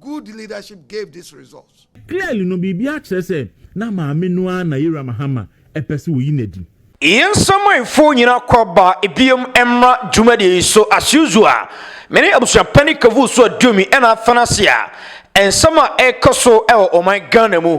Good leadership gave this result. Clearly no biribi akyerɛ sɛ na maame no ara na Yera Mahama pɛ sɛ ɔyi no adi. Yɛn nsamanfoɔ nyinaa kɔ aba biom mmra dwumadie yi so as usual me ne abusua panin Kavuu so aduomi ɛna afɛn ase a nsɛm a ɛrekɔ so wɔ ɔman Ghana mu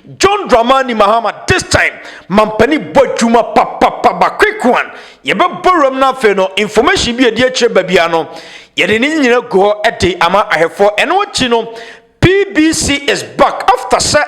John Dramani Mahama this time manpanin bɔ adwuma papapa ba quick one yɛbɛ bɔ wuram na afei no information bi ɛdi akyire ba bia no yɛde ne nyina gu hɔ ɛde ama ahwɛfoɔ ɛno akyi no PBC is back after sɛ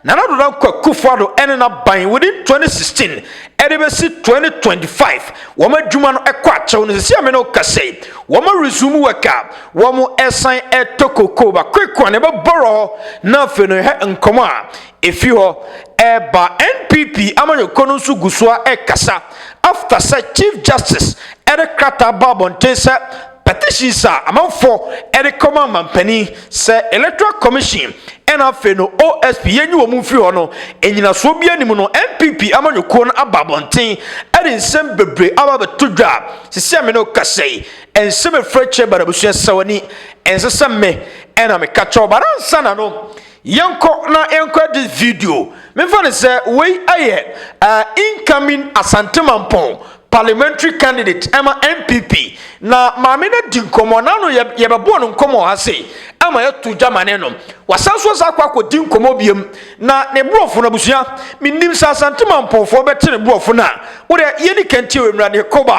Nana Ado Dankwa Akufo Ado ɛne na ban within 2016 ɛde bɛsi 2025 wɔn adwuma no ɛkɔ akyɛw no sisi a me ne wo kasa yi wɔn resume work a wɔsan tɔ kokoo ba kwekwa na ɛbɛbɔrɔ hɔ na afei no yɛhɛ nkɔmɔ a efi hɔ ɛba npp amanyɔkuo no nso gu so a ɛkasa after sɛ chief justice ɛde krataa ba abɔnten sɛ petitions a amanfoɔ ɛde kɔma amampanin sɛ electoral commission ɛna afei no osp yɛnyi wɔn mfiri hɔ no nnyinasoɔ bi anim no npp amanyɔkuo no aba abɔnten ɛde nsɛm bebree aba bɛto dwa sisi amene okasa yi Ɛnsɛ me frɛ kyɛ bara busua sɛ wani ɛnsɛ sɛ me ɛna me ka kyɛw bara nsa na no yɛnkɔ na yɛnkɔ this video mefa ne sɛ wei ɛyɛ uh, incoming asante mampɔn parliamentary candidate ɛma npp na maame no di nkɔmmɔ na no yɛbɛboɔ no nkɔmmɔ ha se ɛma yɛto gya ma ne no wasan so sa akɔ akɔdi nkɔmmɔ biam na ne borɔfo no abusua menim sɛ asante mampɔnfoɔ bɛte ne borɔfo no a wodɛ yɛni kantie wɔ mmra ne kɔba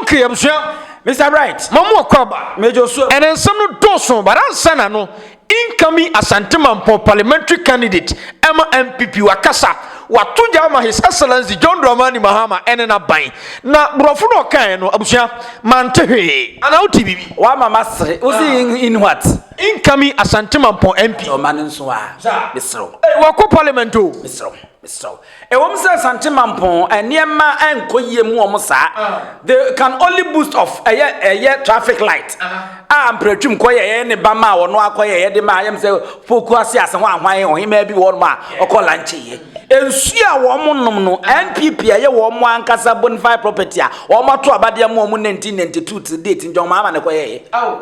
Okay, abusua, Mr. Bright, ma mo ɔkɔ aba. Major Osua. Ɛnɛ nsɛm no dɔɔso, but ansa na no, incoming Asantemampɔn parliamentary candidate ɛma NPP wakasa, wato gya ama His Excellency John Dramani Mahama ɛne n'aban. Na borɔfo no a ɔkaeɛ no, abusua, mante hwee. Anaa wote biribi? Wama masere. Wo se in, in what? Incoming Asantemampɔn MP. Ɔma no nso a, mesrɛ wo. Ei, wakɔ parliament o. Mesrɛ wo, mesrɛ wo. Ɛwɔm sɛ Asante Mampong nneɛma nkɔ yie mu wɔn saa they can only boost of ɛyɛ ɛyɛ traffic light a mpratwim kɔ yɛ ɛyɛ ne ba ma wɔn akɔ yɛ ɛyɛ de ma ayɛm sɛ poku ase ase ho ahwan ɔhemaa bi wɔn a ɔkɔ lanche yɛ nsuo a wɔn nom no NPP a ɛyɛ wɔn ankasa bonafide property a wɔn ato abadeɛ mu wɔn 1992 till date nti wɔn ama ne kɔ yɛ yɛ.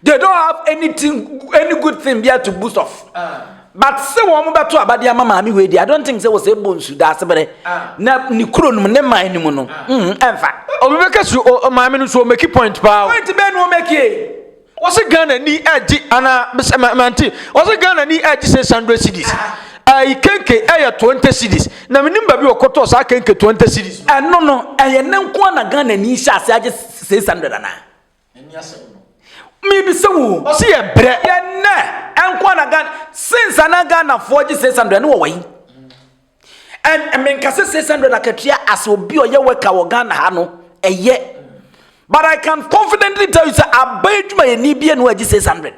They don't have anything any good thing bia to boost off. Uh. but sɛ wɔn bɛto abade ama maame wei deɛ i don't think sɛ wɔsɛ ɛbɔ nsu daase berɛ ah. na ne kuro nom ne man no mu no ah. mm, ɛmfa obi bɛka si maame no so ɔmɛki point paa point bɛɛ na ɔmɛkie wɔsɛ ghana ni ɛgye anaa mante wɔsɛ ghana ni ɛgye sɛ sandra cities ayi ah. kenke ɛyɛ twenty cities na menim baabi wɔkɔtɔ saa kenke twenty cities ɛno no ɛyɛ ne nko na ghana ni hyɛ ase agye six hundred anaa Ɛne asɛm no. Mebisa wo. Ɔsi yɛ brɛ. Yɛ nɛ ɛnko ana Ghana since ana Ghanafoɔ gye six hundred ne wɔ wɔyi. And menkase six hundred akatua as obi ɔyɛ wɛka wɔ Ghana ha no ɛyɛ. But I can confidently tell you sɛ aban adwumayɛni bie no agye six hundred.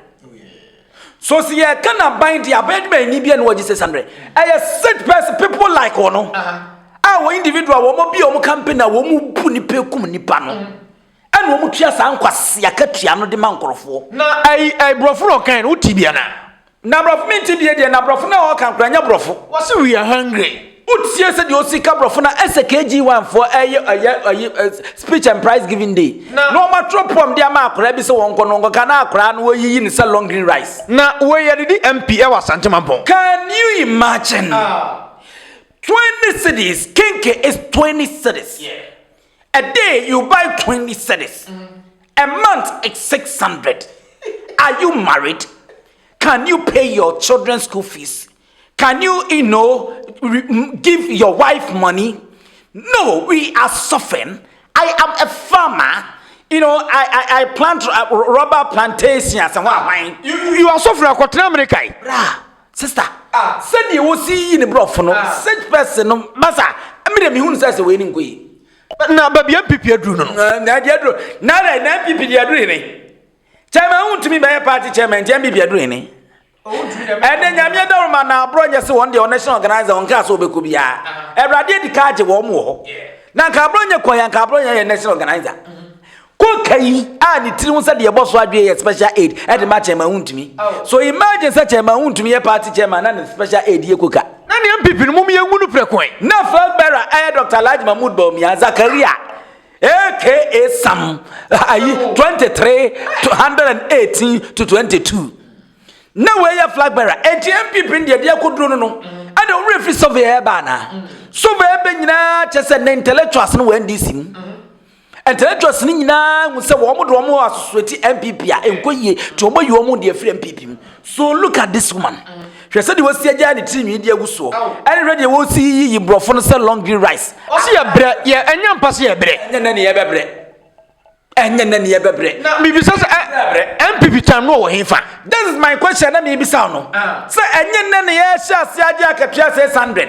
So si yɛ ka na ban di aban adwumayɛni bie no agye six hundred. Ɛyɛ such person people like wɔn. Uh -huh. A wɔ individual wɔn bi a wɔn campaign a wɔn bu nipa ekum nipa no. Uh -huh. Ɛna wɔn tua saa nkwasea katua no de ma nkorɔfoɔ. Na ɛyi ɛyi brɔfo na ɔkan no wo ti bia na. Na brɔfo me nti bia deɛ na brɔfo na ɔkan koraa nyɛ brɔfo. Wɔse we are hungry. Wo tie sɛdeɛ ɔsi ka brɔfo na ɛsɛ KG one foɔ ɛyɛ ɛyɛ ɛyi speech and prize giving day na wɔn atwerɛ poem de ama akwadaa bi sɛ wɔn kɔ na wɔn kɔ ka na akwadaa no wɔyi yi no sɛ long green rice. Na wei yɛde di MP ɛwɔ Asante mampɔn. Can you imagine? Twenty cedis, kenke is twenty cedis. A day you buy twenty cedis a month is six hundred are you married can you pay your children school fees can you you know give your wife money no we are suffering I am a farmer you know I I I plant uh, rubber plantations and what you you are suffering akɔtena America yi. Sister ah sɛdeɛ wosi yi ne brɔfo no such person no masa me deɛ mehunu sɛ sɛ wei ne nkɔ yi. Na baabi MPP aduru no no. Na deɛ aduru na dɛ na MPP deɛ aduru hene. Chairman ho ntumi bɛyɛ party chairman nti MPP aduru hene. Ɛnɛ nyame adaworo ma na aborɔ nyɛ se wɔn deɛ national organizer wɔn kaa sɛ wɔbɛkɔ biara. Awurade adi ka agye wɔn wɔ hɔ. Na nka aborɔ nyɛ kɔn yɛ nka aborɔ nyɛ yɛ national organizer. Koka yi a ne tiri ho sɛ deɛ ɛbɔ so adwene yɛ special aid ɛde ma chairman ho ntumi. So imagine sɛ chairman ho ntumi yɛ party chairman na ne special aid yɛ koka. Na nea mpp no mom yɛ ngu no prɛko ɛ. Na flag bearer ɛyɛ Doctor Alhaji Mahmood Bawumia Zakaria aka Sam ayi 23 118 to 22. Na wei yɛ flag bearer eti mpp no deɛ deɛ koduro no no ɛna wɔn refi survey ɛba anaa. Survey ɛbɛ nyinaa kyɛ sɛ na intellectuals no wɔ NDC mu. Intellectuals no nyinaa hu sɛ wɔn de wɔn asosoati NPP a ɛnkɔ yie nti wɔn ayi wɔn de afiri NPP mu. So look at this woman. Hwɛ sɛdeɛ wɔsi agyaa ne tiri nwi de agu soɔ. Ɛne hwɛ deɛ wɔsi yiyi borɔfo no sɛ long green rice. Ɔsi yɛ brɛ yɛ ɛnyɛ mpa sɛ yɛ brɛ. Ɛnyɛ nɛ ne yɛ bɛ brɛ. Ɛnyɛ nɛ ne yɛ bɛ brɛ. Na mibisa sɛ ɛ NPP time no wɔ he fa? This is my question na mibisa no. Sɛ ɛnyɛ nɛ ne yɛ hyɛ ase agye akatua sɛ 800.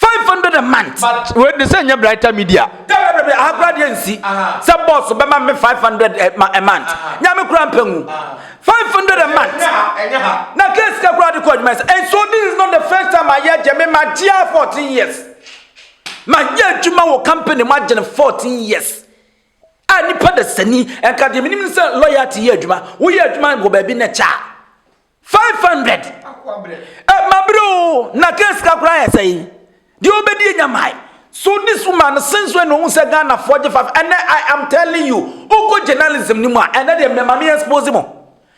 five hundred a month. but wei de sɛ nyɛ brighter media. dabidabi ahakora deɛ nsi sɛ bɔs bɛma me five hundred eh, a month nyame kura mpɛ ngu five hundred a month na kɛ sika kura de kɔ adwuma sɛ and so this is not the first time I ayɛ gyɛ me ma gyea fourteen years ma yɛ adwuma wɔ company mu agyene fourteen years a nipa da sani ɛnka deɛ menim sɛ loyalty yɛ adwuma woyɛ adwuma wɔ baabi na kyɛ a Five hundred. Eh, my bro, na case ka kura yɛ sɛyi. Deɛ obedi enya mae. So this woman since when ohun sɛ Ghana foɔ gye five ɛnɛ I am telling you wokɔ journalism ni mu a ɛnɛ deɛ mɛ maame expose mo.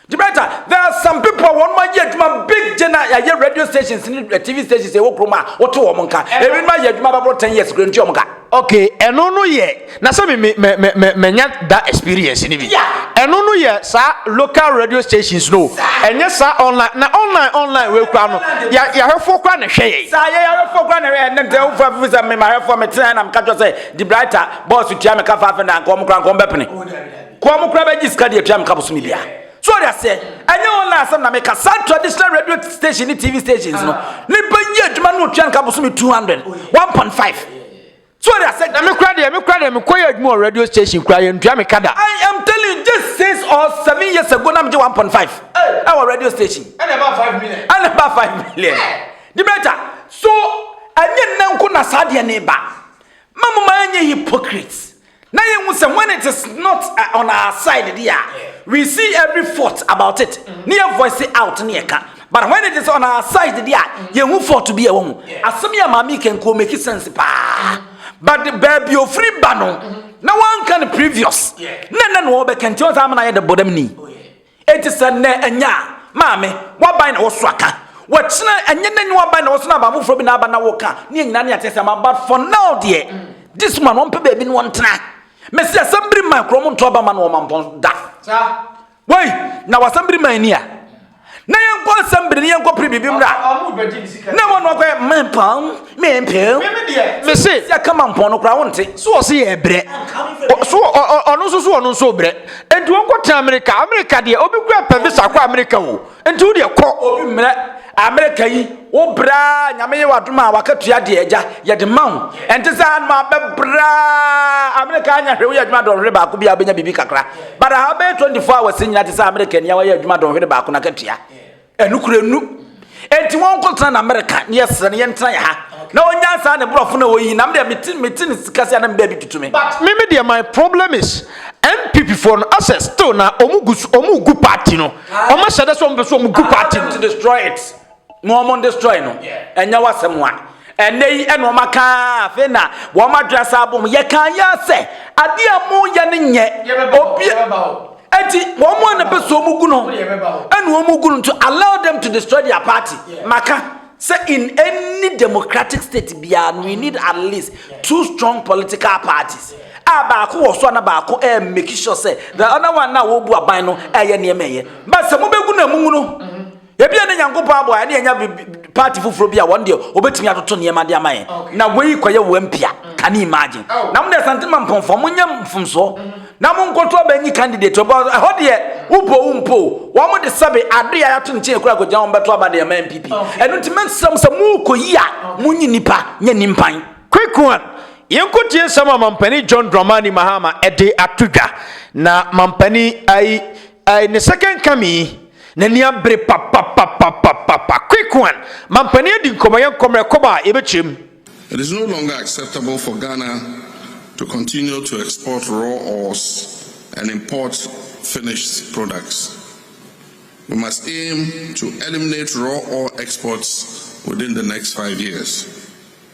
Gibraltar there are some people a wɔn ayɛ adwuma big gye na yɛayɛ radio stations ni eh, TV stations ɛwɔ kurom a wɔto wɔn nka. Ebinom ayɛ adwuma bɛboro ten years kura ntua wɔn ka. Okay, ɛno no yɛ. Na sɛ me me me me me manya da experience ni bi. Ɛno no yɛ saa local radio stations no. Ɛnyɛ saa online na online online wei kura no. Ya yahwɛfoɔ kura na hwɛ yɛ. Saa yɛ yahwɛfoɔ kura na hwɛ yɛ ne ntɛ wofa fi sɛ me mahwɛfoɔ me tena na me kakyɛ sɛ di brighter boss tua me ka fa afɛ na nka wɔn kura nka wɔn bɛ pene. Kɔ wɔn kura bɛ gyi sika deɛ tua me ka bosome bia. So ɔde aseɛ ɛnyɛ online asɛm na me ka saa traditional radio station ne TV stations no. Nipa yi adwuma no tua nka bosome 200 1.5. So ɔde asɛ. Na me koraa deɛ me koraa deɛ me kɔ yɛ adwuma wɔ radio station koraa yɛ ntua me ka da. I am telling you just six or seven years ago na me gye one point five ɛwɔ radio station. Ɛna ɛbaa five million. Ɛna ɛbaa five million. Dimeta so ɛnyɛ nnɛ nko na saa deɛ no reba ma mo ma yɛnyɛ hypocrites. na yɛn hu sɛ when it is not uh, on our side deɛ we see every fault about it ne yɛ voice out ne yɛ ka but when it is on our side deɛ a yɛn hu fault bi a ɛwɔ mu asɛm yɛ maame kɛnkɔn make sense paa but baabi ofiri ba no na wɔn nka no previous na nna na wɔbɛka nti wɔn sɛ amena yɛ de bɔ dɛm ni. Oh, Enti sɛ nnɛ ɛnyɛ a, maame, w'aban na wɔso aka. Wɔkyena ɛnyɛ n'ani w'aban na wɔso na aban foforɔ bi na aba na woka. Neɛ nyinaa ne atease ama but for now deɛ, this man wɔmpɛ baabi ne wɔntena. Mese asɛm biri man koraa wɔnto aba ma no wɔ mampɔn da. Wei, na w'asɛm biri man ni a? Na yɛnkɔ asɛm biri ne yɛnkɔ pere biribi mmra na ɛwɔ no akɔyɛ mampɔn. Me mpem. Me me deɛ. Me se. Sɛ kama mpɔn no koraa wo nte. So ɔse yɛ brɛ. So ɔno nso so ɔno nso brɛ. Enti wɔn kɔ tena Amerika. Amerika deɛ obi kura pɛ visa kɔ Amerika o. Enti wo deɛ kɔ. Obi mmerɛ Amerika yi wo braa nyame yɛ wadom a waka tua deɛ agya yɛde ma wo. Ɛnte sɛ anum abɛ braa Amerika anya hwɛ woyɛ adwuma dɔnhwere baako bi a wobɛnya biribi kakra. But aha bɛyɛ 24 hours nyina te sɛ Amerika ni a wɔyɛ adwuma dɔnhwere baako na ka tua. Ɛnokorɛ nu. Enti wɔn nko tena na America ne yɛ srɛ no yɛn tena yɛ ha na wɔn nya saa ne brɔfo na wɔyi nam deɛ mete mete ne sika se anam baabi tutu me. But me me deɛ my problem is NPP foɔ no asɛ still na wɔn gu so wɔn gu party no wɔn ahyɛdɛ sɛ wɔn pɛ sɛ wɔn gu party no. Allow them to destroy it na wɔn destroy no ɛnyɛ wasɛm wa. Ɛnnɛ yi na wɔaka a, afei na wɔn adwene asan abɔ mu. Yɛka yɛ sɛ adeɛ a moyɛ no nyɛ obi eti wɔn a na pɛ sɛ wɔn gu no ɛna wɔn gu no nti allow them to destroy their party. Maka sɛ in any democratic state biara no we need at least two strong political parties a baako wɔ so a na baako ɛɛ make sure sɛ the other one na wɔbu aban no ɛyɛ nneɛma ɛyɛ. But sɛ mobɛgu na mungu no. Ebia ne Nyankopɔn aboa yɛn ne yɛnya party foforɔ bi a wɔn deɛ wɔbɛtumi atoto nneɛma de ama yɛn na wei kɔyɛ wɔn mpia can you imagine na mo deɛ santema mpɔnfoɔ monyɛ mfomsoɔ na monkɔto abɛnyi candidate ɔbɔ ɛhɔ deɛ wobɔ wo mpo wɔn de sɛbe ade a yɛato nkyɛn kura kɔgyina wɔn bɛto aba deɛ ma npp ɛno nti mɛnsrɛ mo sɛ morekɔyi a monyi nnipa nyɛ nimpan quick one yɛnkɔtie nsɛm a mampani john dramani mahama ɛde ato dwa na mampani ai In the second coming, N'ani abere papapapapapa. Quick one, Mampanin adi nkɔmmɔ, yɛn nkɔmmrɛ kɔba a yɛbɛkyɛm. It is no longer acceptable for Ghana to continue to export raw ores and import finished products. We must aim to eliminate raw ore exports within the next five years.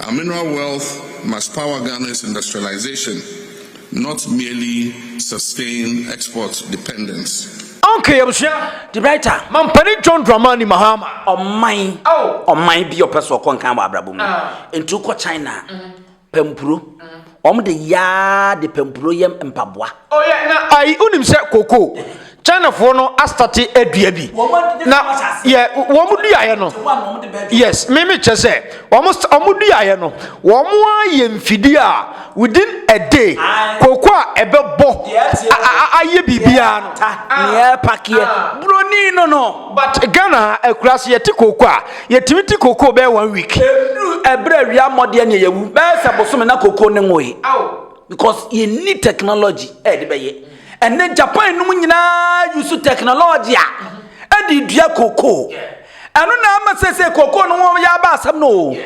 Our mineral wealth must power Ghana's industrialisation, not merely sustain export dependence. Okay, abusua, the writer, Mampanin John Dramani Mahama. Ɔman, ɔman bi a ɔpɛ sɛ ɔkɔ nkan wɔ abrabɔ mu. Enti wokɔ China a, pɛ mpuro. Wɔn de yaa de pampuro yɛ mpaboa. Oh yeah, na ayi unim sɛ koko China foɔ no astate adua bi. Na yɛ wɔn duaeɛ no. Yes, me me kyɛ sɛ wɔn wɔn duaeɛ no wɔn ayɛ mfidie a within a day koko a ɛbɛbɔ ayɛ biribiara no. Nea ɛpakeɛ buroni no no. But Ghana ha akuraase yɛte koko a Yɛtumi te kokoo bɛyɛ one week. Ɛduru ɛberɛ a awia mmɔdeɛ ne yɛwu bɛyɛ sɛ bosome na kokoo ne nwoe. Because yɛnni technology a yɛde bɛyɛ. Ɛnɛ Japan nom nyinaa use technology a ɛde dua kokoo. Ɛno na ama sɛ sɛ kokoo no ho yɛ aba asɛm no o.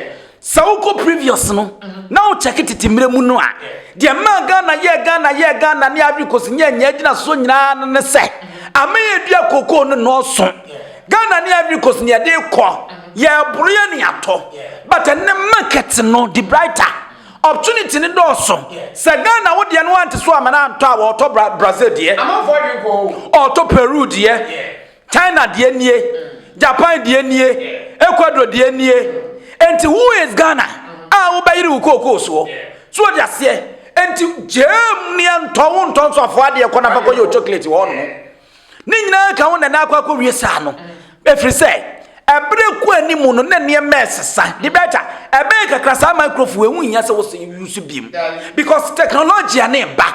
Sɛ wokɔ previous no na wo check tete mmerɛ mu no a, deɛ maa Ghana yɛɛ Ghana yɛɛ Ghana ne Ivory Coast nyɛ nyɛ agyina soɔ nyinaa no ne sɛ aman yɛ dua kokoo no nɔɔso. Ghana ne Ivory Coast ne yɛde kɔ, yɛboro yɛ ne yɛatɔ. But ɛnɛ market no de brighter, opportunity no dɔɔso. Sɛ Ghana wo deɛ no ante so amana antɔ a wɔɔtɔ Brazil deɛ, ɔɔtɔ Peru deɛ, China deɛ nie, Japan deɛ nie, Ecuador deɛ nie. Enti who is Ghana a wobɛyere wo kookoo soɔ? So wɔde aseɛ? Enti gyeem neɛ ntɔ wo ntɔ nso afoɔ adeɛ kɔ na fa kɔyɛ o chocolate wɔ hɔ nom. Ne nyinaa ka wo nana akɔ akɔwie saa no. Ɛfiri sɛ Bere rekɔ anim no, na nneɛma resesa. De bɛ agya, ɛbɛyɛ kakra saa microphone ɛho hia sɛ wɔsɛ use biom because technology ne ba.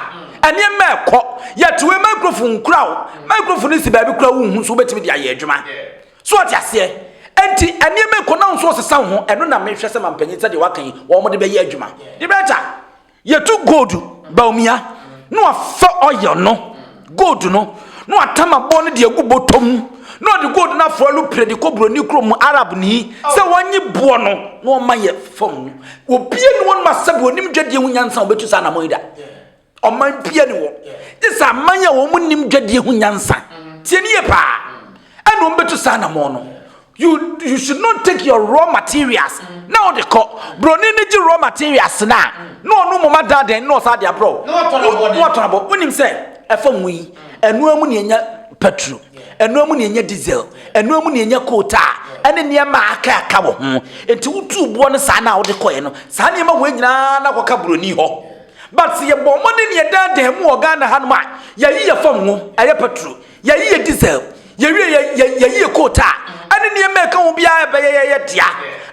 Nneɛma ɛkɔ. Yɛte wei microphone nkura o. Microphone no si baabi kura wo nhu so wobɛtumi de ayɛ adwuma. So ɔte aseɛ. Enti nneɛma ɛkɔ na nso ɔsesa ho. Ɛno na mehwɛ sɛ mampanyin sɛdeɛ waka yi wɔn de bɛyɛ adwuma. De bɛ agya, Yɛtu gold Bawumia na wafa oil no, gold no, na watam aboɔ no de agu bɔtɔ mu, na ɔde gold no aforo alupire de kɔ buroni kurom mu, Arabni, sɛ wɔnye boɔ no na wɔma yɛ fam no. Obia ni wɔnom a sɛbe ɔnim dwadie ho nyansa a ɔbɛtu saa anamɔn yi da. Ɔman bia ni hɔ, gye sɛ aman a wɔn nim dwadie ho nyansa, tie ni yie paa, ɛna wɔn bɛtu saa anamɔn no. You you should not take your raw materials na o de kɔ broni ne gye raw materials na na ɔno moma da dɛn na ɔsa de abrɔ na ɔtɔn abɔ wonim sɛ ɛfa mu yi ɛnoa mu ne ɛnya petro ɛnoa mu ne ɛnya diesel ɛnoa mu ne ɛnya koota ɛne nneɛma aka aka wɔ ho nti wotu boɔ no saa na wode kɔɛ no saa nneɛma wei nyinaa na kɔka broni hɔ but sɛ yɛbɔ mmɔden ne yɛda dɛn mu wɔ ghana hanom a yɛyi yɛ fam ho ɛyɛ petro Yɛayi yɛn diesel, yɛwie yɛ, yɛ, yɛayi yɛ coat a ɛne nneɛma a ɛka ho biara ɛbɛyɛ yɛyɛ dea.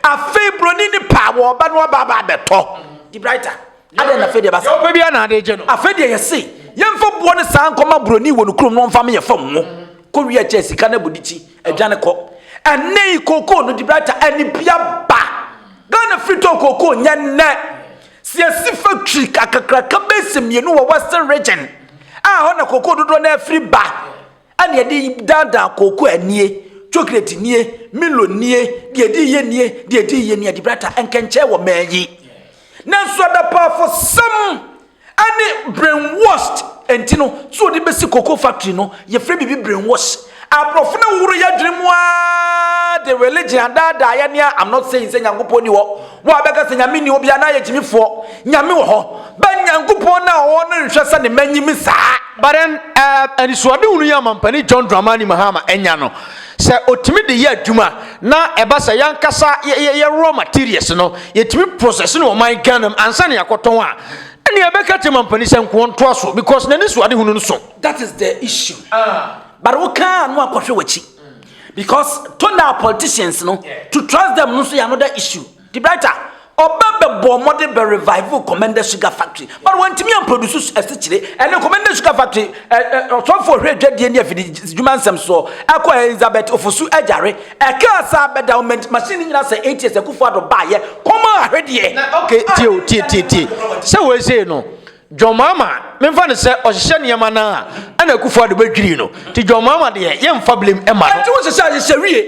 Afei buroni ne pa wɔ ɔba no aba aba abɛtɔ. De brighter. Adɛn na afei deɛ ɛba saa? Deɛ ɔpɛ biara na ade gye no. Afei deɛ yɛse yɛmfa boɔ no saa nkɔma buroni wɔ ne kurom na ɔmfa meyɛ fam ngo. Kɔwie a kyɛ sika no abu de ti, adwane kɔ. Ɛnnɛ yi kookoo no, de brighter, ɛne bi aba. Ghana firi tɔn kookoo nyɛ nnɛ. Sɛ yɛsi fa twi kakraka bɛsi mmienu wɔ Western Region a ɛhɔ na kooko dodoɔ no afiri ba a na yɛde daadaa kooko a nie, chocolate nie, milo nie, deɛ ɛdi yie nie, deɛ ɛdi yie nie, adibrata, nkɛnkyɛn wɔ mmaa yi. Nanso adapaafosɛm ne brainwashed nti no, so wɔde bɛsi cocoa factory no, yɛfrɛ biribi brainwash. Abrofo no horo yɛ dwene mu aa de religion adaadaa yɛ nea I'm not saying sɛ Nyankopɔn ni hɔ wo a bɛka sɛ Nyame nni hɔ bia na ayɛ gyimifoɔ Nyame wɔ hɔ but Nyankopɔn no a ɔwɔ hɔ no nhwɛ sɛ ne mma nyimi saa. But then eh, anisoadehunu yi a Ɔmampanin John Dramani Mahama anya no, sɛ ɔtumi de yɛ adwuma na ɛba sɛ yɛankasa yɛ yɛ raw materials no yɛtumi process no wɔ ɔman Ghana mu ansa na yɛakɔtɔn a, ɛnneɛ yɛbɛka akyerɛ Mampanin sɛ nkoɔ ntoa so because n'anisoadehunu no so. That is the issue. But wo kaa no akɔhwɛ w'akyi. Because tona politicians no to trust them no nso yɛ another issue. The brighter ɔbɛ bɛ bɔ ɔmɔde bɛ revive Commander Sugar Factory. But wɔntumi amproduce asikyire ɛne Commander Sugar Factory ɔsɔfo ɔhwɛ adwadie ne afidi dwuma nsɛm soɔ ɛkɔ Elizabeth Ofosu agyare ɛkaa saa bɛda ɔmɛnti machine ne nyina sɛ eight years akufo ado baayɛ kɔma ahwedeɛ. Okay tie o tie tie tie sɛ wɔn esei no John Mahama, memfa no sɛ ɔhyehyɛ nneɛma no a, ɛna Akufo-Addo bɛdwiri no. Nti John Mahama deɛ, yɛmfa blame mma no. Ɛnti wo se sɛ ahyehyɛ wie?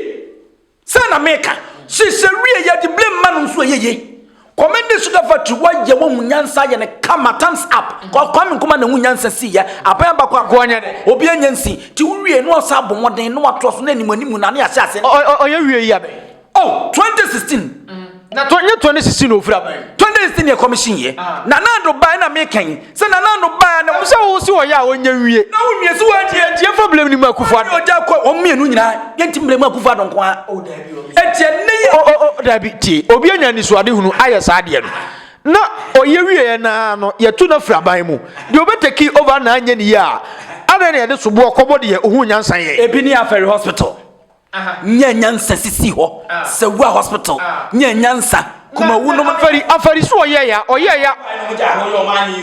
Sɛ na meka, hyehyɛ wie yɛde blame ma no nso ɛyɛ yie. Kwame de sugar factory wayɛ wahu nyansa ayɛ no kama thumbs up. Kwame Nkrumah na ɛhu nyansa sii yɛ. Aban bako a nkoa nyɛ dɛ. Obi anya nsi. Nti wo wie na wasan abɔ mmɔden na watoa so na animu animu na ne ahyɛ ase. Ɔyɛ wie yi abɛn. Oh, 2016. Na tɔ nye 2016 na ofura bae. 2016 yɛ commission yɛ. Ah. Na Nando bae na me kan. Sɛ na Nando bae na. Sɛ wo si wɔyɛ a onye nwie. Na wo nwie so wa die. Tie fa blame ni mu akufo ado. Oja kɔ wɔn mmienu nyinaa. Yɛ nti blame akufo ado nko a. Oh, dabi o. Etie ne yɛ. Oh, oh, oh, dabi tie. Obi anya nisuade hunu ayɛ saa deɛ no. Na ɔyɛ wieɛ naa no yɛtu no afiri aban mu deɛ ɔbɛtaki over na anyɛ ne yie a adɛn na yɛde soboɔ kɔbɔ deɛ ɔhu nyansa yɛ ebi ne afɛre hospital Nya nyansa sisi hɔ sɛ wura hospital nya nyansa kumawu nom. Fari afari so ɔyɛ ya ɔyɛ ya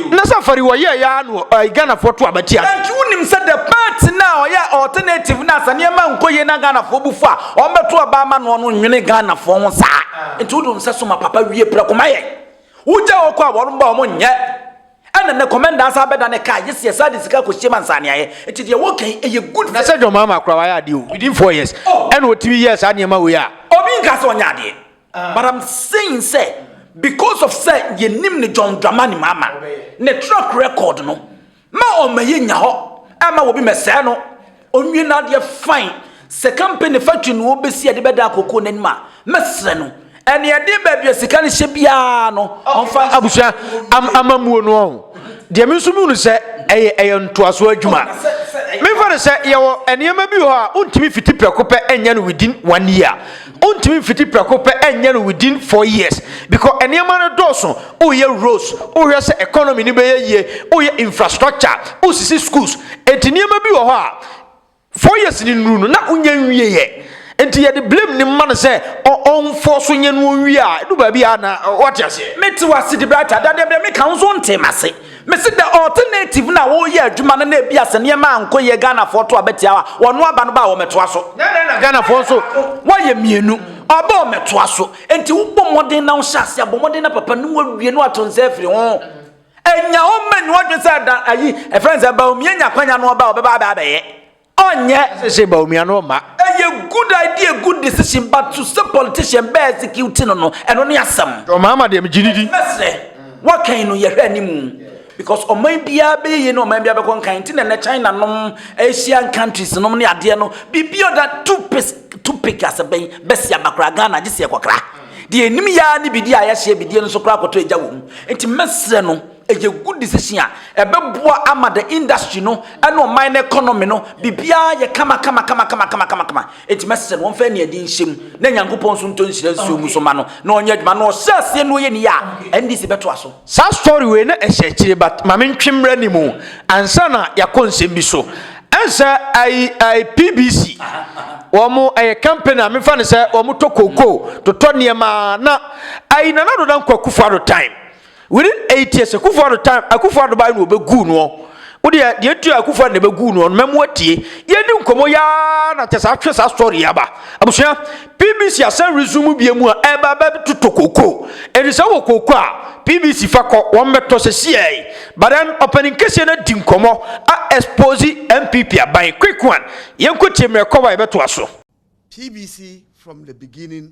na sɛ fari ɔyɛ ya no ɛɛ Ghana foɔ to aba tia no. Nti wo nim sɛ the part na ɔyɛ alternative na sɛ nneɛma nkɔ yie na Ghana foɔ bu fo a wɔn bɛ to aba ama noɔ no nwene Ghana foɔ ho saa nti wo de wɔn sɛ so ma papa wie prɛko ma yɛn wo gya wɔn kɔ a wɔn ba wɔn nyɛ. Ɛna nnɛ kɔmɛndaa saa bɛda ne car gye sɛ yɛsan de sika kɔsie ma nsaneayɛ. Nti deɛ woka yi ɛyɛ good for. Na sɛ John Mahama koraa wayɛ adeɛ o within four years ɛna ɔtumi yɛɛ saa nneɛma wei a. Obi nkaa sɛ ɔnyɛ adeɛ but I'm saying sɛ because of sɛ yɛnim no John Dramani Mahama ne track record no ma ɔma yɛnya hɔ ɛma obi mɛsɛɛ no Onwie no adeɛ fine. Sɛ company factory na ɔbɛsi ɛde bɛda akoko no anim a mɛsrɛ no ɛne ɛde baabi a sika no hyɛ biara no ɔmfa abusua am amamuo no ɔho deɛ me nso mehunu sɛ ɛyɛ ɛyɛ ntoasoɔ adwuma memfa no sɛ yɛwɔ nneɛma bi wɔ hɔ a wontumi fiti prɛko pɛ ɛnyɛ no within one year Ontumi mfiti prɛko pɛ nyɛ no within four years because nneɛma no dɔɔso, woyɛ roads, wohwɛ sɛ economy no bɛyɛ yie, woyɛ infrastructure, wosisi schools, enti nneɛma bi wɔ hɔ a four years no nnuru no na wonyɛ nwieɛ. Enti yɛde blame no ma no sɛ ɔmfɔɔ so nyɛ no ɔnwie a ɛdu baabi a na wate aseɛ. Mete wo ase Debrah Atta, dadeɛ berɛ meka wo nso wontee m'ase. Mese the alternative na woyɛ adwuma no na ebia sɛ nneɛma ankɔ yie Ghanafoɔ to abɛtia wo a wɔno aba no ba a wɔmɛtoa so. Nyɛ dɛn na Ghanafoɔ nso wɔyɛ mmienu ɔba a wɔmɛtoa so. Enti wobɔ mmɔden na wohyɛ ase abɔ mmɔden na papa no wawie na wato nsa afiri ho. Ɛnya hɔ mma nni w'adwene sɛ da ayi ɛfrɛ no sɛ Bawumia nya akwanya no ɔba a ɔbɛba abɛ abɛyɛ. Ɔnyɛ. Decision ba omia no ɔma. Ɛyɛ good idea good decision but to sɛ politician bɛ execute no no ɛno ne asɛm. John Mahama deɛ megye no di. Mɛsrɛ wakan no yɛhwɛ animu because ɔman biara bɛyɛ yie ne ɔman biara bɛkɔ nkan nti na ɛnɛ China nom Asian countries nom ne adeɛ no biribi ɔda tupis tupik asɛbɛn bɛsi aba koraa Ghana gye sɛ yɛkɔkra deɛ ɛnim yɛa ne bidie a yɛhyɛ bidie no so koraa kɔtɔ agya wɔ mu nti mɛsrɛ no Ɛyɛ good decision a ɛbɛboa ama the industry no ɛne ɔman no economy no biribiara yɛ kama kama kama kama kama kama kama enti mɛsɛ no wɔmfa aniɛde nhyɛ mu na Nyankopɔn nso ntɔ nhyira nsuo mu so ma no na ɔnyɛ adwuma na ɔhyɛ aseɛ na ɔyɛ ne yie a NDC bɛtoa so. Saa story wei na ɛhyɛ akyire but ma me ntwe mmra anim ansa na yɛakɔ nsɛm bi so. Ɛn sɛ I, I, PBC wɔn ɛyɛ company a mefa no sɛ wɔn tɔ cocoa totɔ nneɛma na I, Nana Ado Dankwa Akufo-Addo time Within eight years akufo ado time akufo ado baa no wɔbɛguu noɔ wo deɛ deɛ ɛtua akufo ado na ɛbɛguu noɔ no mɛmu atie yɛdi nkɔmmɔ yaa na kyɛ saa twe saa story aba abusua pbc asɛn resume bia mu a ɛba bɛtotɔ koko ɛdi sɛ wɔ koko a pbc fa kɔ wɔn bɛtɔ sɛ siɛi but then ɔpɛni nkɛseɛ no adi nkɔmmɔ a expose mpp aban quick one yɛnkɔ tie mmerɛ kɔba yɛbɛtoa so pbc from the beginning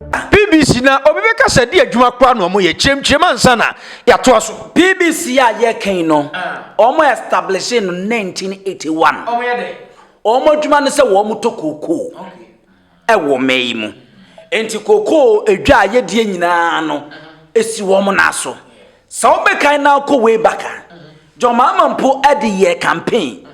Bbc, Na obi bɛka sɛ ɛde adwuma koraa na wɔyɛ? Kyerɛmkyerɛm ansa na yɛatoa so. Bbc, A yɛreka yi no, wɔn ɛstablehye no 1981. Wɔn yɛ dɛn? Wɔn adwuma ne sɛ wɔtɔ kookoo wɔ mmɛ yi mu. Nti kookoo dwa a yɛdie nyinaa no si wɔn nan so. Sɛ wobɛkan na akɔ way back a, John Mahama mpo de yɛɛ campaign.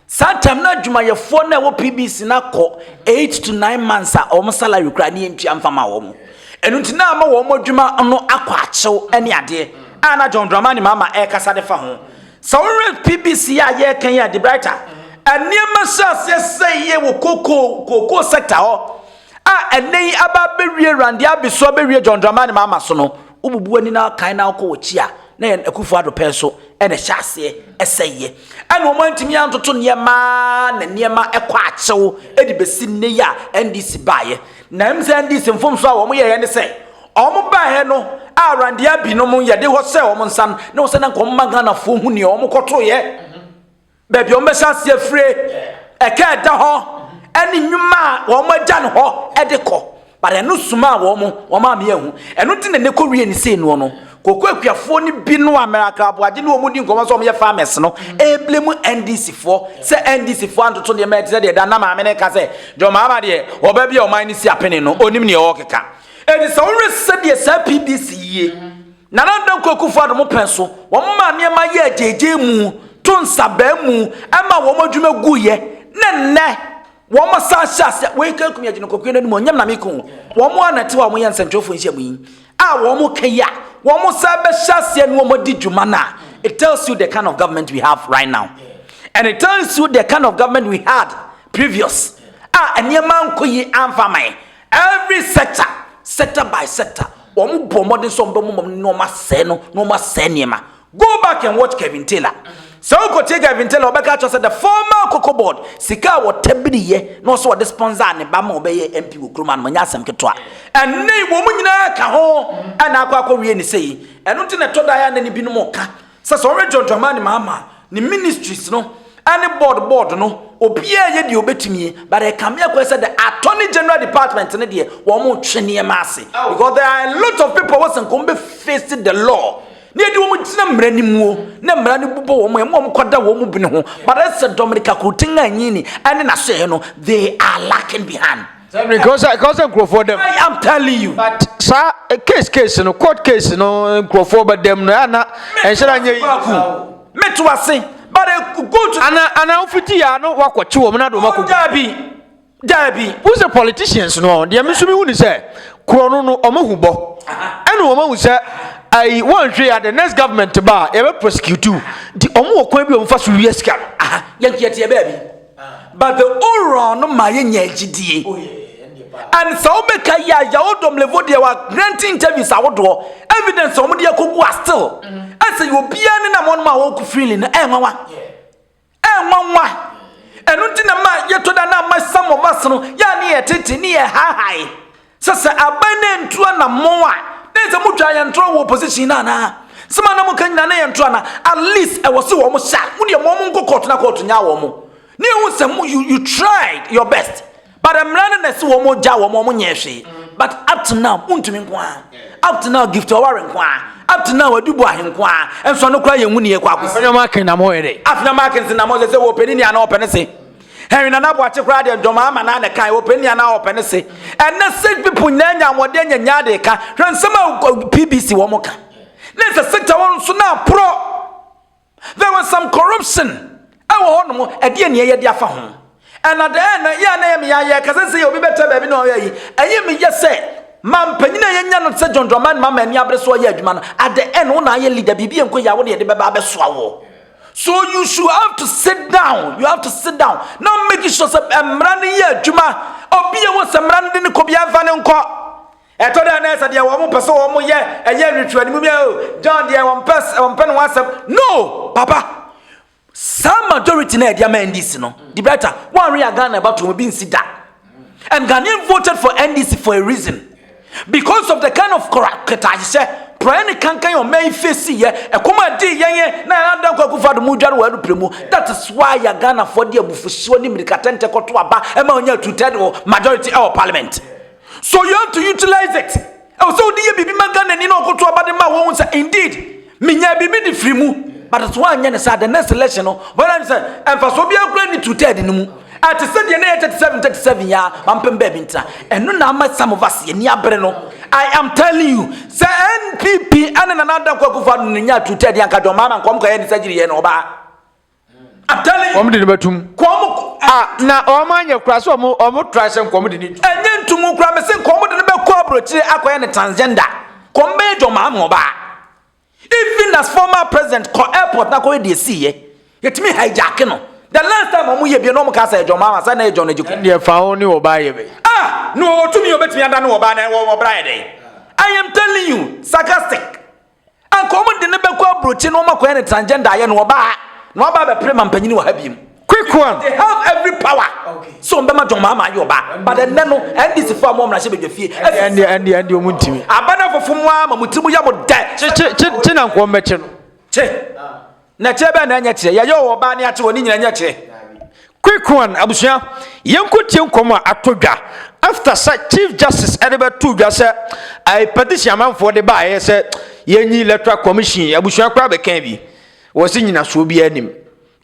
Saa time na adwumayɛfoɔ na ɛwɔ PBC na akɔ 8 to 9 months a wɔn salary kura ne yɛntua mfa ma wɔn. Ɛno nti na ama wɔn adwuma no akɔ akyew ne adeɛ a na John Dramani Mahama ɛrekasa de fa ho. Sɛ wohwɛ PBC a yɛreka yi a De Brighter, nneɛma hyɛ aseɛ sɛ yie wɔ koko koko sector hɔ a ɛnɛ yi aba abɛwie Randeɛ Abesu abɛwie John Dramani Mahama so no, Wobubu w'ani na kan na wokɔ w'akyi a, na yɛn Akufo Addo pɛn so na ɛhyɛ aseɛ ɛsɛeɛ. Ɛna wɔn antumi antoto nneɛma ara na nneɛma kɔ akyew de bɛsi nnɛ yi a NDC baeɛ. Na ɛm sɛ NDC mfomsoɔ a wɔn yɛeɛ ne sɛ, wɔn baeɛ no a Randeɛ binom yɛde hɔ sɛ wɔn nsa no, na wɔn sɛ na nka wɔn mma Ghanafoɔ hu deɛ wɔn kɔtoeɛ. baabi a wɔbɛhyɛ ase afire, ɛka a ɛda hɔ, ɛne nnwuma a wɔn agya no hɔ ɛde kɔ. But ɛno suma a wɔn wɔn maame yɛ ho. Ɛno ti na ne kɔ wie ne sei noɔ no. Koko akuafoɔ no bi no a miracle aboagye ne wɔn di nkɔmɔ sɛ wɔn yɛ farmers no. Ɛɛble mu NDC foɔ sɛ NDC foɔ antoto deɛ mɛte sɛ deɛ da na maame ne ka sɛ John Mahama deɛ ɔbɛ bi a ɔman ne si apene no onim ne ɔɔkeka. Ɛdi sɛ wɔn sɛ deɛ saa PDC yie. Nana Danko Akufo-Addo mo pɛn so, wɔn maa nneɛma yɛɛ gyeegyee mu, to nsa baa mu, ɛmaa wɔn adwuma guiɛ, ne nnɛ, wɔn asan hyɛ aseɛ, wei ka Kumi Agyenkokue no animuonyam na meko, wɔn ara na ɛte hɔ a wɔyɛ nsɛntwerɛfoɔ nhyiamu yi, a wɔn ka yi a wɔn san bɛhyɛ aseɛ ne wɔn adi dwuma no a, it tells you the kind of government we have right now, and it tells you the kind of government we had previous, a nneɛma ankɔ yie amfa aman, Every sector, sector by sector, wɔn bɔ mmɔden sɛ wɔn bɛ mɔmɔ na wɔn asɛe no na wɔn asɛe nneɛma. Go back and watch Kevin Taylor. Sɛ wokɔ tie Kevin Taylor, ɔbɛka kyerɛ sɛ the former Koko board sika a wɔtabiri yɛ na ɔsɛ ɔde sponsor ne ba ma ɔbɛyɛ MP wɔ kurom anam nyɛ asɛm ketewa. Ɛnne wɔn nyinaa ka ho ɛna akɔ akɔ wie ne sɛ yi. Ɛno nti na ɛtɔ da yɛ anɛ ne binom ka. Sɛ sɛ ɔyɛ John Dramani Mahama ne ministries no ɛne board board no obiara yɛ deɛ obetumi but ɛka me akɔ sɛ the attorney general department no deɛ wɔn mo twe nneɛma ase because there are a lot of people wɔ sɛ nka wɔn bɛ face the law ne yɛde wɔn gyina mmara ne muo ne mmara ne bobɔ wɔn ɛmu wɔn kɔda wɔn mu bene ho but ɛsɛ Dominica Kurtin a nyini ɛne n'ahyɛɛ no they are lacking behind. I'm telling you. But sa eh, case case no court case no nkurɔfoɔ bɛ dɛm no ɛyɛ na ɛnhyɛ na nyɛ yi. Me to ase but eh, go to. Ana ana ofiti ya no wakɔ kyi wɔn na do wakɔ. Dabi dabi. Who say politicians no deɛ mi so mi hu ni sɛ kuro no no wɔn ahu bɔ ɛna wɔn ahu sɛ ayi wɔn nhwɛ ya the next government ba yɛ bɛ prosecute nti wɔn wɔ kwan bi wɔn fa so wia sika no. Yɛn kiyɛ tiɛ bɛɛ bi. But the oral no ma yɛnya gyidie. Oh, And sɛ wobɛka yi a Yawo Domlevo deɛ wa grant interviews ahodoɔ evidence a wɔde akɔgu a still. Ɛsɛ mm-hmm. yɛ obiara ne na wɔn a wɔkɔ freely no ɛnwanwa. Ɛnwanwa. Ɛno nti na ma yɛtɔ da na ama some of us no yɛ a ne yɛ tete ne yɛ hahae. Sɛ sɛ aban na ɛntu anammɔn a, na ɛsɛ motwaa yɛn ntorɔ wɔ opposition no anaa? Nsɛm a na moka nyinaa na yɛnto anaa? At least ɛwɔ sɛ wɔn hyɛ a, modeɛ ma wɔn nkɔ court na court nyaa wɔn. Na yɛhu sɛ mo, you, you tried your best. But mmara no na ɛse wɔn gyaa wɔn, wɔn nyɛɛ hwee. But up to now, wontumi nko ara. Up to now, Gift Ɔware nko ara. Up to now, Adu Boahe nko ara. Ɛnso ano koraa yɛnhu ne yɛkɔ akɔsi. Afenam Akin na mo yɛ dɛ. Afenam Akin se na mo sɛ sɛ wɔpɛ ne ni anaa wɔpɛ ne se. Henry Nana Boakye koraa deɛ dwom ama naa ne kan ɔpɛ nia naa ɔpɛ ne se ɛnɛ sage people nyinaa nya ahoɔden anya nyaa de ka hwɛ nsɛm a PBC wɔn ka ne sɛ sector wɔn nso na aporɔ there was some corruption ɛwɔ hɔ nom ɛdeɛ nea yɛde afa ho ɛna dɛn na yɛ na yɛ me yɛ yɛ kasa sɛ obi bɛtɛ baabi na ɔyɛ yi ɛyɛ me yɛ sɛ ma mpanyin a yɛnya no sɛ John Dramani ma ma ani abere so ɔyɛ adwuma no at the end wo na ayɛ leader biribi nkɔ yɛ a wo na yɛde bɛba abɛsoa wɔ So you should have to sit down you have to sit down na make sure sɛ eh, mmara no yɛ adwuma obi a wɔ sɛ mmara no de ne kɔ bia mfa ne nkɔ ɛtɔ dɛ na ɛsɛ deɛ wɔn pɛ sɛ wɔn yɛ ɛyɛ ritual no mu bia o oh, john deɛ wɔn pɛ wɔn pɛ ne ho asɛm no papa saa majority na ɛde ama ndc no de bɛta wɔn anwe yɛ ghana ɛba to wɔn bi nsi da And Ghanaian voted for NDC for a reason. Because of the kind of ketaahyehyɛ praeɛ ne kankan ɔma yi fesi yɛ ɛkɔm a dii yɛn yɛ na yɛn adan kɔ akufo ado mu dware wɔ ɛno pere mu that is why yɛ ghanafoɔ de abufusuo ne mmirikatɛntɛ kɔto aba ɛma ɔnyɛ two third majority ɛwɔ parliament so you have to utilize it Ɛwɔ sɛ ɔde yɛ biribi ma Ghanani na ɔkoto aba de ma wɔhu sɛ indeed menyaa biribi de firi mu. But nso wanyɛ ne saa the next election no wɔyɛ ne sɛ mfasoɔ biara kura ne two third no mu. Ɛte sɛ deɛ na ɛyɛ 37 37 yɛ a mampem baabi ntena. Ɛno na ama some of us yɛn ani abere no. I am telling you sɛ NPP ɛne Nana Adakwa Akufo-Addo no nyaa two third anka John Mahama nka wɔn kɔyɛ ne surgery yɛ no ɔbaa. wɔn de no bɛtum a na wɔn anyɛ kura sɛ wɔn wɔn tra sɛ nkɔm de no tu. ɛnyɛ ntumu kura mɛ sɛ nkɔm de no bɛkɔ aburokyire akɔyɛ ne transgender kɔm bɛyɛ dwɔma ama ɔbaa even as former president kɔ airport na kɔyɛ deɛ si yɛ yɛtumi hijack no the last time wɔn yɛ bie na wɔn ka sɛ ɛdwɔma ama sɛ na ɛdwɔn agye ko. ɛndeɛ fa ho ne ɔbaa yɛ bɛ. ah na ɔtumi ɔbɛtumi ada ne ɔbaa na ɛwɔ ɔbra yɛ dɛ i am telling you sarcastic Anka wɔn de no bɛkɔ aburokyi na wɔn akɔyɛ no transgender ayɛ no ɔbaa na waba abɛpere ma mpanyin wɔ ha biem. Quick one. They have every power. So wɔn bɛma John Mahama ayɛ ɔbaa but ɛnɛ no NDC fo a wɔn wɔn ahyɛ badwa fie. Ɛndeɛ ɛndeɛ ɛndeɛ wɔn ntumi. Abanafofo mu ara ma mo ti mu yɛ mo dɛ. Kye kye kye kye na nkɔm bɛkye no. Kye. Na kyerɛ bɛn na ɛnyɛ kyerɛ? Yɛyɛ wɔ ɔbaa ne akye wɔ ne nyina nyɛ kyerɛ. Quick one, abusua, yɛnkɔ tie nkɔm a ato dwa after sɛ Chief Justice ɛde bɛto dwa sɛ a petition amanfoɔ de ba ɛyɛ sɛ yɛnyi electoral commission abusua koraa bɛka bi wɔ se nyinasoɔ bi anim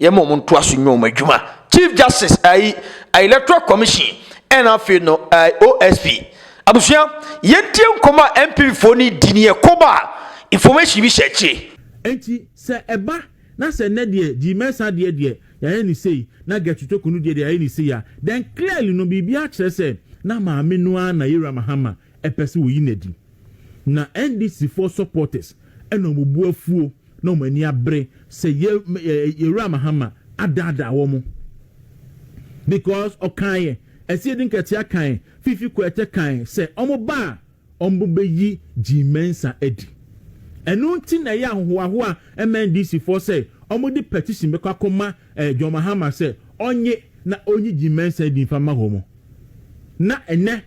yɛma ɔmo ntoa so nyɛ ɔmo adwuma Chief Justice ayi electoral commission ɛna afei no OSP abusua yɛntie nkɔm a MPP foɔ no di ne yɛ kɔba information bi hyɛ akyire. Enti Sɛ ɛba na sɛ nnɛ deɛ Gye Mensah deɛ deɛ yɛayɛ no sei na Gertrude Toku no deɛ deɛ yɛayɛ no sei a, then clearly no biribiara kyerɛ sɛ na maame no ara na Yeiral Mahama pɛ sɛ wɔyi no adi. Na NDCfoɔ supporters na wɔn bo afuo na wɔn ani abere sɛ Yeiral Mahama adaadaa wɔn because ɔkaeɛ, Asiedu Nkɛtea kaeɛ, Fifi Koetɛ kaeɛ sɛ wɔba a, wɔbɛyi Jean Mensa adi. Ɛno nti na ɛyɛ ahohoahoa MNDC foɔ sɛ wɔde petition bɛkɔ akɔma John Mahama sɛ ɔnye na ɔnyi Jean Mensa adi mfa mma wɔn. Na ɛnɛ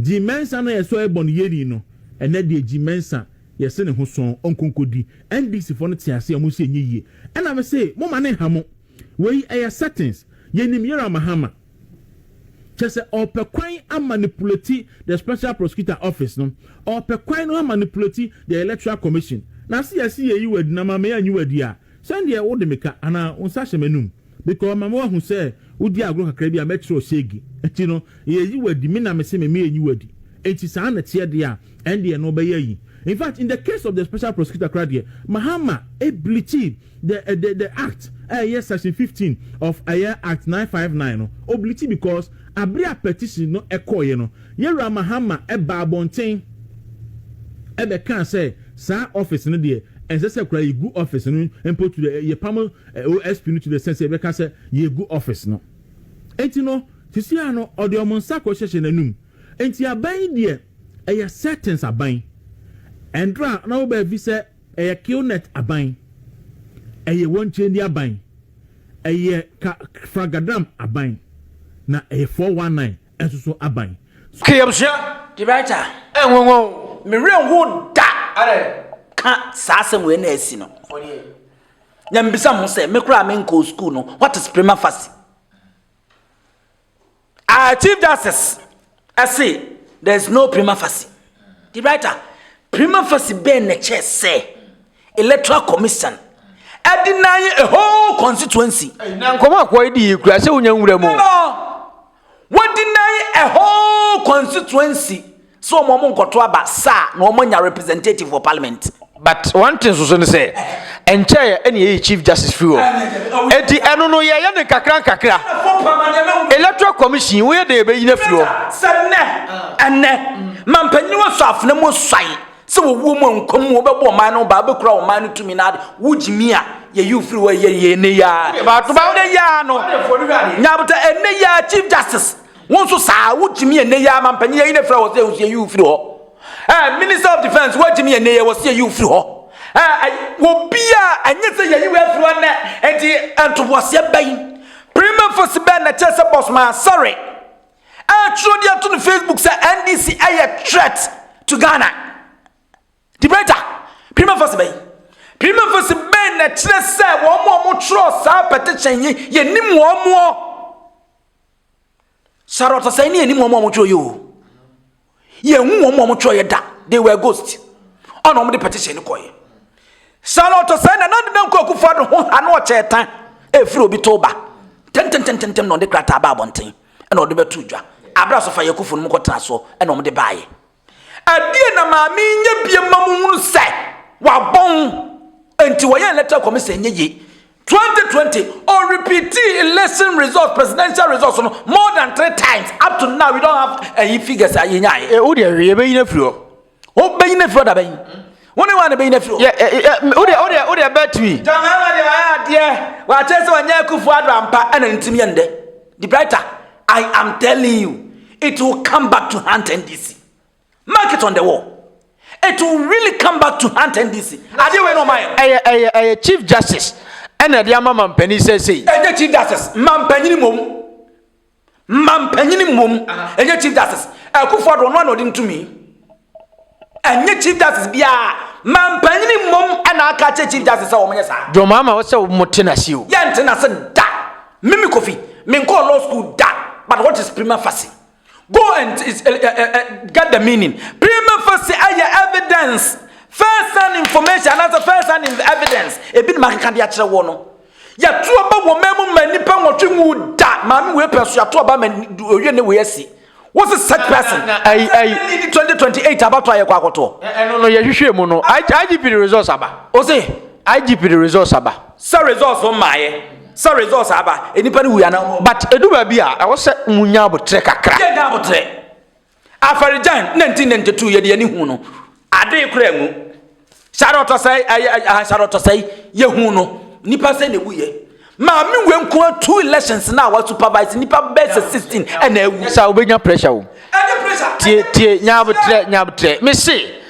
Jean Mensa no a yɛsɔre bɔ no yɛni no, ɛnɛ deɛ Jean Mensa yɛse ne ho sɔn ɔnkɔ nkɔdi. NDC foɔ no te aseɛ, wɔn nso ɛnyɛ yie. Ɛna mese momma ne nha mo. Wei ɛyɛ settings. Yɛnim Yera Mahama. Kyerɛ sɛ ɔrepɛ kwan amanipulati the special prosecutor office no, ɔrepɛ kwan no amanipulati the electoral commission. Na se yɛse yɛyi wo adi na ma me anyi wo adi a, sɛndeɛ wode me ka anaa wo nsa hyɛ m'anum, because ma me wahu sɛ wodi agorɔ kakra bi a mɛkyerɛ ɔsege, nti no yɛyi wo adi, me na mese me meanyi wo adi. Nti saa na ɛteɛ deɛ a, ɛndeɛ no bɛyɛ ayi. Infact in the case of the special prosecutor koraa deɛ, Mahama bleachee. The the the act a ɛyɛ section fifteen of ɛyɛ act nine five nine no obliti because abere a petition no ɛkɔɔeɛ no Yɛwura Mahama ɛbaa abɔnten ɛbɛkaa sɛ saa office no deɛ ɛnsɛ sɛ koraa yɛgu office no mpo to the yɛpam OSP no to the sense sɛ yɛbɛka sɛ yɛgu office no enti no sisi a no ɔde ɔmo nsa kɔhyehyɛ n'anum enti aban yi deɛ ɛyɛ settings aban ɛndra na wobaa vi sɛ Ɛyɛ Kilnet aban. Ɛyɛ Wɔnkyɛndi aban. Ɛyɛ Ka Fragadram aban. Na ɛyɛ Four One Nine nso so aban. Ka yɛabusua de bɛyɛ gya ɛnwanwa o. Me werɛ nhow da ka saa asɛm wei na asi no. Na mebisa mo ho sɛ, me koraa a menkɔɔ sukuu no, what is prima facie? Our Chief Justice se there is no prima facie. The writer, prima facie bɛn na kyerɛ sɛ Electoral Commission ɛde na a whole constituency. Na nkɔmɔ akɔ yi di yi kura sɛ wonya nwura mu. No, no, wɔde na a whole constituency. Sɛ wɔn wɔn nkɔto aba sa a na wɔn anya representative wɔ parliament. But one thing soso ne sɛ ɛnkyɛɛ ɛna yɛyi chief justice firi hɔ. Eti ɛno no yɛyɛ ne nkakra nkakra. Electoral commission woyɛ dɛ yɛbɛyi no afiri hɔ. Sɛ nnɛ ɛnnɛ mampanin wɔ sɔ afena mu suae sɛ wɔwuo mu a nkwa mu wɔbɛbɔ ɔman no baa bɛkura ɔman no tumi na ade wogye mi a yɛyi ofiri hɔ yɛ yɛ ɛnɛ yi ara. Ɛnɛ yi ara no nyabota ɛnɛ yi ara chief justice. Wo nso saa, wo gyimi yɛ nnɛ yi ara ma mpanyin ayi na fira wɔ se wo sie yi wo firi hɔ. Eh, Minister of Defence, wo gyimi yɛ nnɛ yi wɔ sie yi wo firi hɔ. Eh, ay, wɔ bia ɛnyɛ sɛ yɛyi wo afiri hɔ nnɛ, enti ntoboaseɛ bɛn, prima facie bɛn na ɛkyerɛ sɛ Boss Man sɔre ɛretwerɛ de ato no Facebook sɛ NDC ɛyɛ threat to Ghana? Debater, prima facie bɛn? Prima facie bɛn na ɛkyerɛ sɛ wɔn a wɔtwerɛ saa petition yi, yɛnim wɔn moɔ? Sara ɔsasɛe ne yɛnim wɔn a wɔtwerɛ yɛ o yɛhu wɔn a wɔtwerɛ yɛ da they were ghost ɔna wɔde petition no kɔɛ Sara ɔsasɛe na nande na nkɔ akufo ado ho ha na ɔkyɛɛ tan ɛfiri obi to ba tɛntɛntɛntɛntɛm na ɔde krataa ba abɔnten ɛna ɔde bɛto dwa abra so fa yɛ akufo no mu kɔtena so ɛna wɔde baayɛ Ɛdeɛn na maame yi nyɛ bie ma mo hunu sɛ wabɔn nti wɔyɛ electoral commission nyɛ yie 2020 or repeating election results presidential results no more than three times up to now we don't have any eh, figures a yɛnya ayɛ. Eh, o deɛ hwɛ yɛbɛyi no afiri hɔ wobɛyi no afiri hɔ da bɛyi wo ne wane bɛyi no afiri hɔ o deɛ o deɛ o deɛ bɛtumi. jɔnmɛma deɛ ɔyɛ adeɛ wɔakyɛ sɛ wɔnyɛ akufo ado ampa ɛna ntumi yɛ ndɛ. The brighter, I am telling you, it will come back to hunt NDC. Mark it on the wall. It will really come back to hunt NDC. Adeɛ wei na ɔma yɛ. Ɛyɛ ɛyɛ ɛyɛ Chief Justice ɛna ɛde ama mampanin sɛsɛyi. Ɛnyɛ Chief Justice, mampanin mmom. Mampanin mmom, ɛnyɛ Chief Justice. Akufo-Addo ɔno na ɔde ntumi. Ɛnyɛ Chief Justice biara, manpanyin mmom na aka akyerɛ Chief Justice sɛ wɔnyɛ saa. John Mahama wo sɛ wo mo te nase o. Yɛn nte nase da. Mimi Kofi, me nkɔɔ law school da, but what is prima facie? Go and uh, uh, uh, get the meaning. Prima facie ɛyɛ evidence, first hand information anaasɛ first hand evidence. Ebi na makeka de akyerɛ wɔ no. Yɛto aba wɔ mmaa mu ma nnipa nwɔtwe nwu da. Maame wei pɛ so yɛato aba ma owie ne wei asi. What's a such person? Hey, hey. 2028 about to ayekwa koto. Eh, no, no, ye hwehwe mu no. IGP the results aba. O say IGP the results aba. Sir results on my. Sir results aba. Any penny we are now. But edu ba bi a, I was say munya abotre kakra. Ye nya abotre. Afarijan 1992 ye de ani hu no. Ade kra mu. Sare ɔtɔsɛe ayɛ ayɛ sare ɔtɔsɛe yɛhu no nipa sɛ na ewu yɛ. Maame wei nko two elections na wa supervise nipa bɛyɛ sɛ sixteen ɛna ewu. Sa wobɛnya pressure o. Ɛnyɛ pressure. Tie tie nyabotrɛ nyabotrɛ me se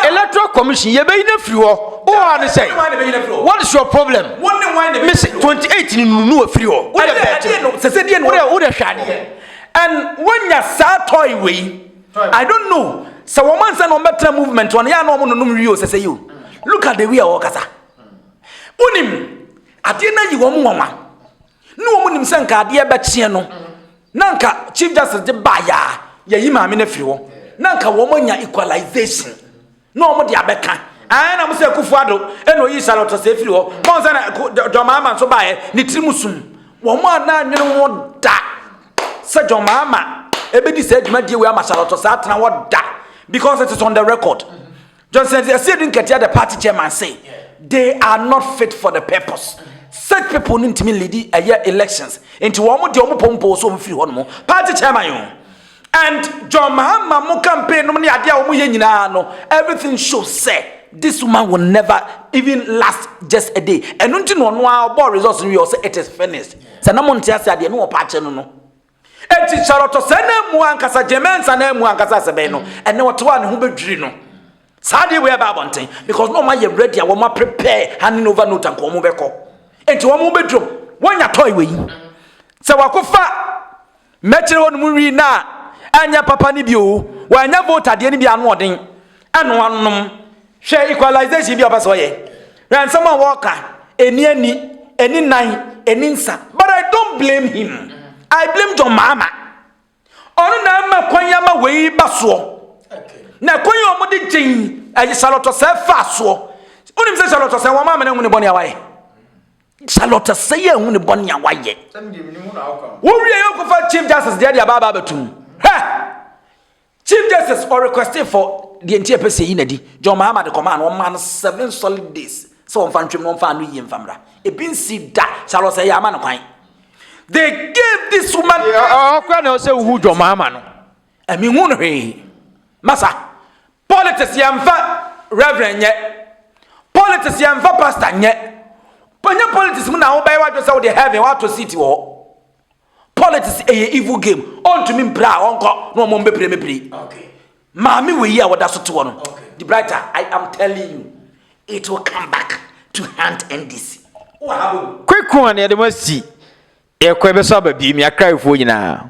electoral commission yɛbɛyi no afiri hɔ. Wowɔ a ne sɛ what is your problem? Me se 28 ni nunu no afiri hɔ. Wodɛ bɛɛte no sɛ sɛ deɛ no wodɛ hwɛ adeɛ. And wonya saa toy wei. I don't know sɛ wɔn ansa na wɔn bɛtena movement wɔn yɛ a na wɔn nonom wie o sɛsɛ yi o look at the way a wɔkasa wonim adeɛ no ayi wɔn nwanwa ne wɔn nim sɛ nka adeɛ bɛkyeɛ no na nka chief justice de baayɛ a yɛyi maame no afiri hɔ na nka wɔn anya equalization. Na ɔmo de abɛka. Ae na mo sɛ Akufo Addo na oyii Saleh Ɔtaseɛ firi hɔ. Mo ansa na John Mahama nso baeɛ, ne tiri mu sum. Wɔn a na nwene ho da sɛ John Mahama ɛbɛdi saa dwumadie wei ama Saleh Ɔtaseɛ atena hɔ da because it is on the record. Johnson Asiedu Nketia the party chairman say they are not fit for the purpose. Such people no ntumi leadi ɛyɛ elections. Nti wɔn de wɔn pompoo so wɔn firi hɔ nom. Party chairman o. And John Mahama mo campaign nom ne adeɛ a wɔn yɛ nyinaa no everything show sɛ this woman will never even last just a day ɛno nti na ɔno ara ɔbɔ results no yɛ ɔsɛ it is finished sɛ na mo nte ase adeɛ no wɔpa akyɛ no no eti Charlotte sɛ na emu ankasa Jemensa na emu ankasa sɛbɛn no ɛnɛ wɔte hɔ a ne ho bɛdwiri no saa adeɛ wei ɛbɛ abɔnten because na wɔn ayɛ ready a wɔn prepare handing over note anka wɔn bɛkɔ eti wɔn bɛdwom wɔn nya toy wei sɛ wakɔfa. Mɛkyere hɔ no mu wii no a ɛnyɛ papa no bi o, wanyɛ vote adeɛ no bi ano ɔden, ɛno anom, hwɛ equalization bi a ɔpɛ sɛ ɔyɛ, hwɛ nsɛm a wɔka, ɛni ani, ɛni nan, ɛni nsa, but I don't blame him, I blame John Mahama, ɔno na ama kwan ama wei ba soɔ, na kwan a wɔde gyen ɛyɛ Charlotte Osei faa soɔ, wonim sɛ Charlotte Osei wɔn amene ho ne bɔne a wayɛ. Charlotte sɛ yɛ hu ne bɔne a wayɛ. Wo wie yɛ kɔfa Chief Justice deɛ deɛ ababa abɛtum. Hɛ! Chief Justice or requested for deɛ nti ɛpɛ sɛ yi nadi. John Mahama de kɔmaa no ɔmaa no seven solid days sɛ wɔmfa ntwam na wɔmfa ano yie mfa mmra. Ebi nsi da Charlotte sɛ yɛ ama no kwan. They gave this woman. Ɔkura na ɔsɛ wuhu John Mahama no. Ɛmi hu no hwee. Masa. Politics yɛ nfa reverend nyɛ. Politics yɛ nfa pastor nyɛ. Pɛnyɛ politics mu na wobɛyɛ wadwe sɛ wode heaven wato seat wɔ hɔ. Politics ɛyɛ evil game. Ɔntumi mpira a ɔnkɔ na ɔmo mbɛpire me pire. Okay. Maame wei a wɔda so te hɔ no, the brighter I am telling you, it will come back to hunt NDC. Kweku a na yɛde mo asi ɛkɔ ɛbɛsɔ aba biem yɛ akraefoɔ nyinaa.